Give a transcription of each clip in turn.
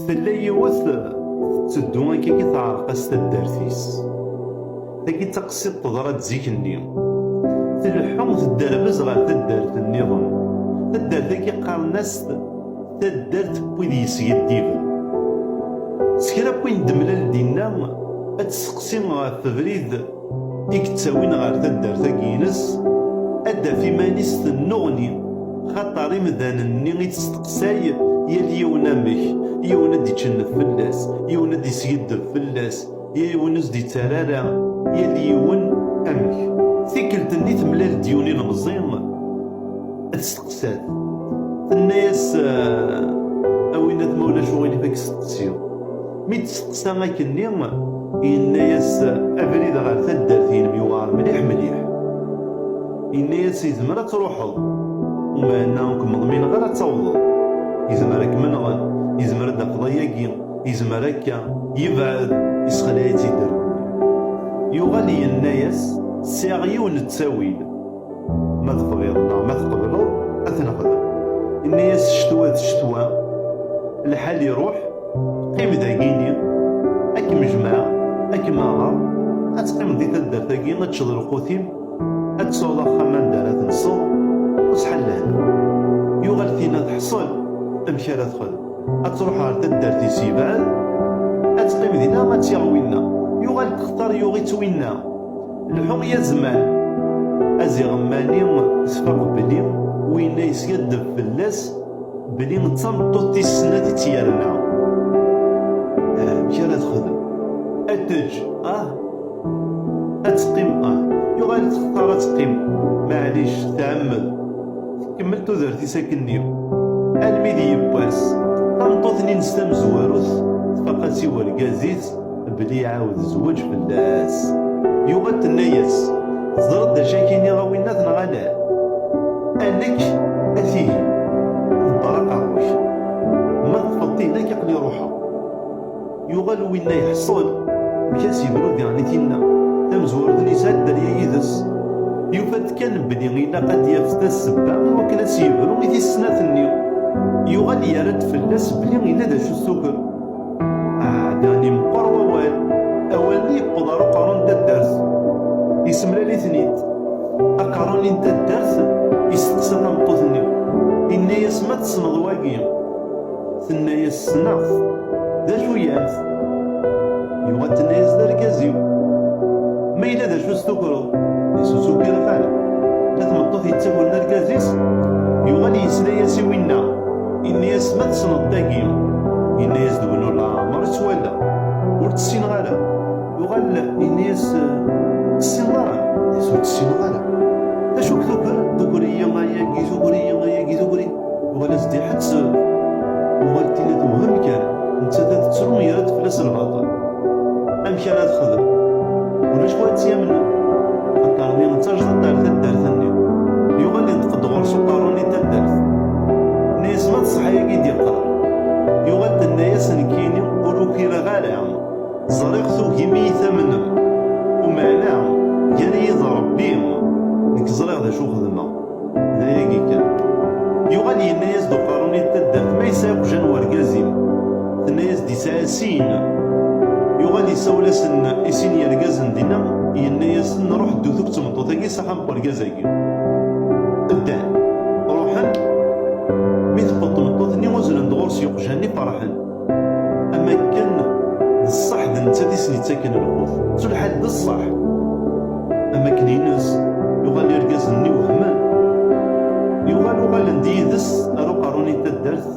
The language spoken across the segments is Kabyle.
Tella yiwet tetteddu akka i teɛreq-as taddart-is. Tagi d taqsiḍt teḍra-d zik-nni. Tleḥḥu tedderbez ɣer taddart nniḍen. Taddart-agi qqaren-as taddart n wid yesgiddiben. S kra n wayen d-temlal dinna, ad tesseqsi ɣef ubrid. i yettawin ɣer taddart-agi-ines, ad d-taf iman-is tennuɣni, xaṭer imdanen-nni i testeqsay yal yiwen amek, yiwen ad d-ičennef fell-as, yiwen ad d-iskiddeb fell-as, yiwen ur s-d-ittarra ara, yal yiwen amek. Tikkelt-nni temlal-d yiwen ilemẓi, testeqsa-t, tenna-as, A winnat ma ulac uɣilif ad k-steqsiɣ. Mi d-testeqsa akkenni, yenna-yas, Abrid ɣer taddart-inem yewɛer mliḥ mliḥ. Yenna-yas, Yezmer ad truḥeḍ, umahenna ur kem-ḍmineɣ ara ad tawḍeḍ. Yezmer ad kem-nɣen, yezmer ad d-tafeḍ ayagi, yezmer akka. Yebɛed, yessexleɛ-itt-id rrbu-nni. Yuɣal yenna-yas, Sɛiɣ yiwen n ttawil. Ma tebɣiḍ neɣ ma tqebleḍ ad t-nexdem. Inni-as ccetwa d ccetwa, lḥal iruḥ, qqim dagini, ad kem-jemɛeɣ, ad kem-aɣeɣ, ad teqqimeḍ di taddart-agi, ad teččeḍ lqut-im, ad tesɛuḍ axxam anda ara tenseḍ, ur sḥal lehna. Yuɣal tinna teḥṣel, amek ara texdem? Ad truḥ ɣer taddart-is yebɛed, ad teqqim dinna ad tt-yaɣ winna. Yuɣal textar yuɣ-itt winna. Lḥu i azman aziɣemmani s faqq belli winna yeskaddeb fell-as belli d tameṭṭut tis snat i tt-yerna. Amek ara texdem? Ad teǧǧ ah? Ad teqqim ah? Yuɣal textar ad teqqim, maɛlic tɛemmed tkemmel tudert-is akkenni. Almi d yiwwas, tameṭṭut-nni-ines tamezwarut tfaq-as i urgaz-is, Belli iɛawed zzweǧ fell-as. Yuɣal tenna-yas, Teẓriḍ d acu akka i nniɣ a winnat neɣ ala? A nekk, a tihin, ḍebber aqerru-k. Ma teṭṭfeḍ-t i nekk aql-i ruḥeɣ. Yuɣal winna iḥṣel, amek ad s-yebru diɣen i tinna tamezwarut n yesɛa dderya yid-s. Yufa-d kan belli ilaq ad d-yaf tassebba i wakken ad s-yebru i tis snat-nni. Yuɣal yerra-d fell-as belli yella d acu s tuker. Aɛdaɣ-nni meqqer wawal, awal-nni yewweḍ ar uqerru n taddart, yessemlal-iten-id. Aqerru-nni n taddart yesteqsa tameṭṭut-nni, yenna-yas, Ma tessneḍ wagi? Tenna-yas, Ssneɣ-t. D acu-yam-t? Yuɣal tenna-yas, D argaz-iw. Ma yella d acu s-tukreḍ? D asu-s ukiḍ xala. La tmeṭṭut yettagren argaz-is, yuɣal yesla-yas i winna. Inna-yas, ma tessneḍ tagi. Inna-yas-d win ur laɛmer i tt-wala, ur tt-ssineɣ ara. Yuɣal inna-yas, tessineḍ ara? Inna-yas, ur tt-ssineɣ ara. D acu k-tuker? Tuker-iyi ayagi, tuker-iyi ayagi, tuker-iyi. Yuɣal-as-d iḥett, yuɣal tili tewhem kan, nettat ad tettru yerra-d fell-as lbaṭel. Amek ara texdem? Ulac win ara tt-yamnen. Taṭṭar-nni d tajdiṭ ar taddart-nni. Yuɣal yenṭeq-d ɣur-s uqerru-nni n taddart. Nesma ṣṣeḥ-agi d-iqqar, yuɣal tenna-yas nekkini ur ukireɣ ara, ẓriɣ tugim i yi-tamnem, umeɛna gar-iyi d Rebbi nekk ẓriɣ d acu xedmeɣ, d ayagi kan. Yuɣal yenna-yas-d uqerrun-i d taddart ma yesɛa iqjan n urgaz-im, tenna-yas-d yesɛa sin, yuɣal isawel-asen i sin yergazen dinna, yenna-yasen ṛuḥ ddu-t akk d tmeṭṭut-agi s axxam n urgaz-agi. ddan ruḥen mi tqeḍ tmeṭṭut-nni uzzlen-d ɣur-s yuqjan-nni ferḥen am akken d ṣṣeḥ d nettat i sen-ittaken lqut ttullḥal d ṣṣeḥ am akken ines yuɣal irgazen-nni wehmen yuɣal uɣalen-d yid-s ar uqerru-nni n taddart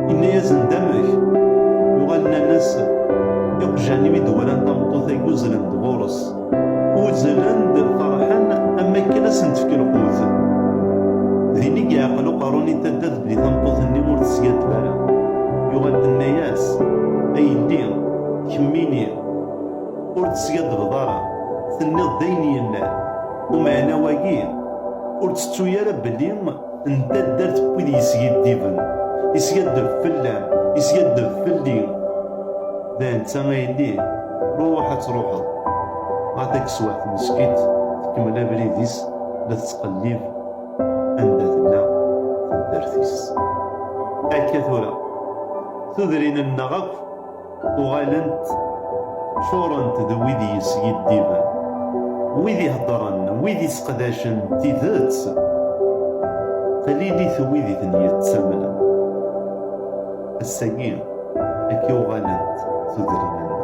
yenna-yasen d amek yuɣal nnan-as iqjan-iw i d-walan tameṭṭut-agi uzzlen-d ɣur-s Uzzlen-d ferḥen am akken ad sen-tefk lqut. Din i yeɛqel uqerru n Itadda belli tameṭṭut-nni ur teskaddeb ara. Yuɣal tenna-yas, A yelli, kemmini, ur d-teskaddebeḍ ara, tenniḍ-d ayen yellan. Umeɛna wagi, ur ttettu ara belli. n taddart n wid yesgiddiben yeskaddeb fell-am yeskaddeb fell-i d netta a yelli ruḥ ad truḥeḍ ɣer tageswaḥt meskit tkemmel abrid-is la tettqellib anda tella taddart-is akka tura tudrin-nneɣ akk Uɣalent ččurent d wid yeskiddiben, wid iheddṛen, wid isseqdacen tidet, qlilit wid i ten-yettamnen. Ass-agi, akka i uɣalent tudrin-nneɣ.